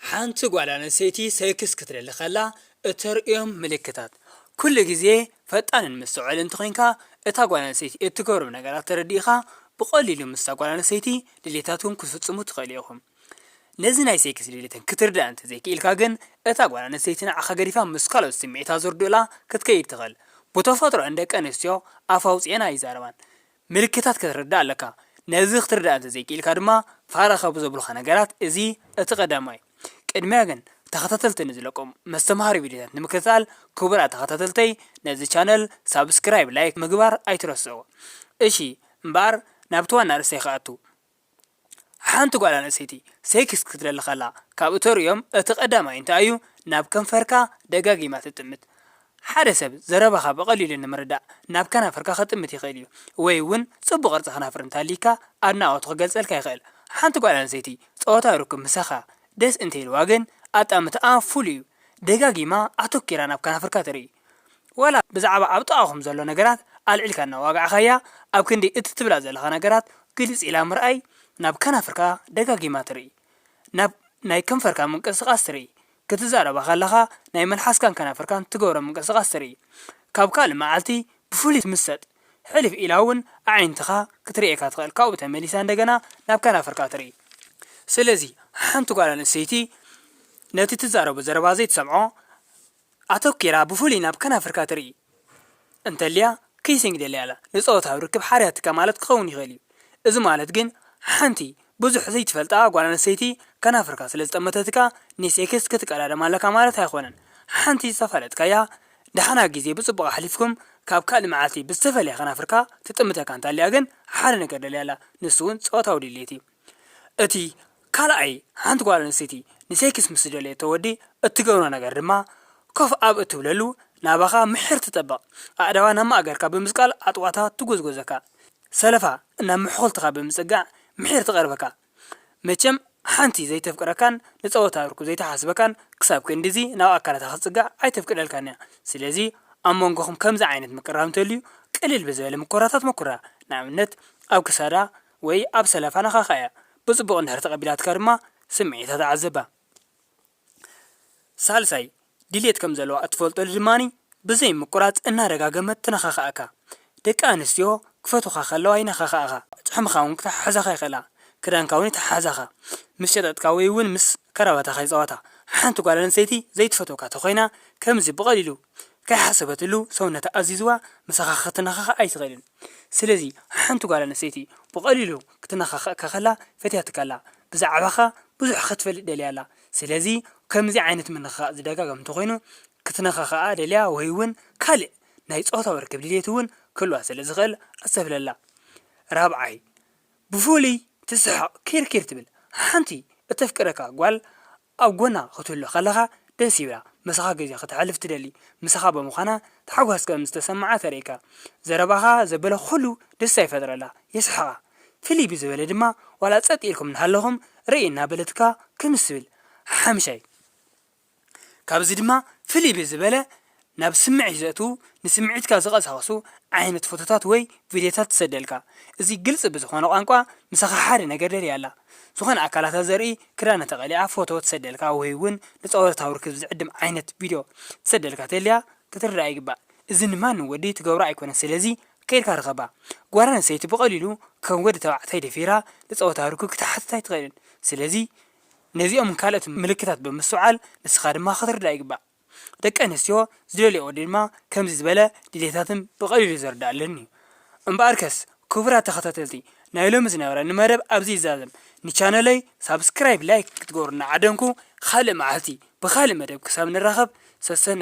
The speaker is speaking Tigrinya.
ሓንቲ ጓል ኣንስተይቲ ሴክስ ክትደሊ ከላ እተርእዮም ምልክታት። ኩሉ ግዜ ፈጣንን መስተውዐልን እንተኾይንካ፣ እታ ጓል ኣንስተይቲ እትገብሮም ነገራት ተረዲእኻ፣ ብቐሊሉ ምስታ ጓል ኣንስተይቲ ድሌታትኩም ክትፍጽሙ ትኽእሉ ኢኹም። ነዚ ናይ ሴክስ ድሌተን ክትርድኣ እንተዘይክኢልካ ግን፣ እታ ጓል ኣንስተይቲ ንዓኻ ገዲፋ ምስ ካልኦት ስምዒታ ዘርድኡላ ክትከይድ ትኽእል። ብተፈጥሮኣን ደቂ ኣንስትዮ ኣፍ ኣውጺኤን ኣይዛረባን። ምልክታት ከተርድእ ኣለካ። ነዚ ክትርድኣ እንተ ዘይክኢልካ ድማ ፋራ ካብ ዘብሉኻ ነገራት እዚ እቲ ቀዳማይ እዩ። ቅድሚያ ግን ተኸታተልቲ ንዝለቆም መስተምሃሪ ቪድዮታት ንምክትታል ክቡራት ተኸታተልተይ ነዚ ቻነል ሳብስክራይብ ላይክ ምግባር ኣይትረስዑ እሺ እምበኣር ናብቲ ዋና ኣርእስተይ ክኣቱ ሓንቲ ጓል ኣንስተይቲ ሴክስ ክትደሊ ከላ ካብ እተርእዮም እቲ ቀዳማይ እንታይ እዩ? ናብ ከንፈርካ ደጋጊማ ትጥምት። ሓደ ሰብ ዘረባኻ ብቐሊሉ ንምርዳእ ናብ ከናፍርካ ክጥምት ይኽእል እዩ፣ ወይ እውን ጽቡቕ ቅርጺ ከናፍር እንተሃልዩካ ኣድናቖቱ ክገልጸልካ ይኽእል። ሓንቲ ጓል ኣንስተይቲ ጾታዊ ርክብ ምሳኻ ደስ እንተኢልዋ ግን ኣጣምታኣ ፍሉይ እዩ፣ ደጋጊማ ኣተኲራ ናብ ከናፍርካ ትርኢ። ወላ ብዛዕባ ኣብ ጥቓኹም ዘሎ ነገራት ኣልዒልካ እናዋጋዕካያ፣ ኣብ ክንዲ እቲ ትብላ ዘለኻ ነገራት ግልጽ ኢላ ምርኣይ፣ ናብ ከናፍርካ ደጋጊማ ትርኢ። ናብ ናይ ከንፈርካ ምንቅስቓስ ትርኢ። ክትዛረባ ከለኻ ናይ መልሓስካን ከናፍርካን ትገብሮ ምንቅስቓስ ትርኢ። ካብ ካልእ መዓልቲ ብፍሉይ ትምሰጥ። ሕልፍ ኢላ እውን ኣዒንትኻ ክትርእየካ ትኽእል ካብኡ ተመሊሳ እንደገና ናብ ከናፍርካ ትርኢ። ስለዚ ሓንቲ ጓል ኣንስተይቲ ነቲ ትዛረቦ ዘረባ ዘይትሰምዖ ኣተኲራ ብፍሉይ ናብ ከናፍርካ ትርኢ እንተልያ ኪሲንግ ደልያ ኣላ፣ ንጾታዊ ርክብ ሓርያትካ ማለት ክኸውን ይኽእል እዩ። እዚ ማለት ግን ሓንቲ ብዙሕ ዘይትፈልጣ ጓል ኣንስተይቲ ከናፍርካ ስለ ዝጠመተትካ ንሴክስ ክትቀዳደም ኣለካ ማለት ኣይኮነን። ሓንቲ ዝተፋለጥካያ ደሓና ግዜ ብጽቡቕ ኣሕሊፍኩም ካብ ካልእ መዓልቲ ብዝተፈልየ ከናፍርካ ትጥምተካ እንተልያ ግን ሓደ ነገር ደልያ ኣላ፣ ንሱ'ውን ጾታዊ ድሌት እዩ። እቲ ካልኣይ ሓንቲ ጓል ኣንስተይቲ ንሴክስ ምስ ዝደልየቶ ወዲ እትገብሮ ነገር ድማ ኮፍ ኣብ እትብለሉ ናባኻ ምሒር ትጠብቕ፣ ኣእዳዋ ናብ ማእገርካ ብምስቃል ኣጥዋታ ትጎዝጎዘካ፣ ሰለፋ ናብ መሕኹልትኻ ብምጽጋዕ ምሒር ትቐርበካ። መቸም ሓንቲ ዘይተፍቅረካን ንጸወታ ርኩብ ዘይትሓስበካን ክሳብ ክንድዚ ናብ ኣካላታ ክትጽጋዕ ኣይተፍቅደልካን'ያ። ስለዚ ኣብ መንጎኹም ከምዚ ዓይነት ምቅርራብ እንተልዩ ቅልል ብዝበለ ምኩራታት መኩራ፣ ንኣብነት ኣብ ክሳዳ፣ ወይ ኣብ ሰለፋ ነኻኻ እያ። ብጽቡቕ እንድሕር ተቐቢላትካ ድማ ስምዒታ ተዓዘባ። ሳልሳይ፣ ድሌት ከም ዘለዋ እትፈልጠሉ ድማ ብዘይ ምቁራጽ እናደጋገመት ትነኻኽኣካ። ደቂ ኣንስትዮ ክፈትዉኻ ከለዋ ይነኻኽኣኻ፣ ጭሕምኻ እውን ክተሓሕዛኻ ይኽእላ፣ ክዳንካ እውን ይተሓሓዛኻ፣ ምስ ጨጠጥካ ወይ እውን ምስ ከራባታኻ ይጻወታ። ሓንቲ ጓል ኣንስተይቲ ዘይትፈትወካ ተኾይና ከምዚ ብቐሊሉ ከይሓሰበትሉ ሰውነታ ኣዚዝዋ ምሳኻ ክትነኻኽእ ኣይትኽእልን። ስለዚ ሓንቲ ጓል ኣንስተይቲ ብቐሊሉ ክትነኻኽእካ ከላ ፈትያትካ ኣላ፣ ብዛዕባኻ ብዙሕ ኸትፈልጥ ደልያ ኣላ። ስለዚ ከምዚ ዓይነት ምንኽኻእ ዝደጋገም እንተኾይኑ ክትነኻኽኣ ደልያ ወይውን ካልእ ናይ ጾታዊ ርክብ ድሌትውን ክህልዋ ስለ ዝኽእል ኣስተብህለላ። ራብዓይ፣ ብፍሉይ ትስሕቕ ኪርኪር ትብል። ሓንቲ እተፍቅረካ ጓል ኣብ ጎና ክትህሉ ከለኻ ደስ ይብላ፣ ምሳኻ ግዜ ከተሕልፍ ትደሊ፣ ምሳኻ ብምዃና ታሕጓስ ከም ዝተሰመዓ ተርእየካ። ዘረባኻ ዘበለ ኩሉ ደስታ ይፈጥረላ፣ የስሕቓ። ፍልይ ብዝበለ ድማ ዋላ ጸጥ ኢልኩም እናሃለኹም ርእይ እናበለትካ ክምስ ትብል። ሓምሻይ ካብዚ ድማ ፍልይ ብዝበለ ናብ ስምዒት ዘእትዉ፣ ንስምዒትካ ዝቐሳቕሱ ዓይነት ፎቶታት ወይ ቪድዮታት ትሰደልካ። እዚ ግልጺ ብዝኾነ ቋንቋ ምሳኻ ሓደ ነገር ደልያ ኣላ። ዝኾነ ኣካላታ ዘርኢ ክዳና ተቐሊዓ ፎቶ ትሰደልካ ወይ'ውን ንጸወታዊ ርክብ ዝዕድም ዓይነት ቪድዮ ትሰደልካ ተልያ ክትርድኣ ይግባእ። እዚ ንማንም ወዲ ትገብሮ ኣይኮነን ስለዚ ከይድካ ርኸባ። ጓል ኣንስተይቲ ብቐሊሉ ከም ወዲ ተባዕታይ ደፊራ ንጸወታዊ ርክብ ክትሓትት ኣይትኽእልን። ስለዚ ነዚኦምን ካልኦትን ምልክታት ብምስትውዓል ንስኻ ድማ ክትርዳእ ይግባእ። ደቂ ኣንስትዮ ዝደልያኦ ድማ ከምዚ ዝበለ ድሌታትን ብቐሊሉ ዝርደኣለን እዩ። እምበኣርከስ ክቡራት ተኸታተልቲ ናይ ሎሚ ዝነበረኒ መደብ ኣብዚ ይዛዘም። ንቻነለይ ሳብስክራይብ ላይክ ክትገብሩኒ ዓደምኩ። ኻልእ መዓልቲ ብኻልእ መደብ ክሳብ ንራኸብ ሰሰናዩ።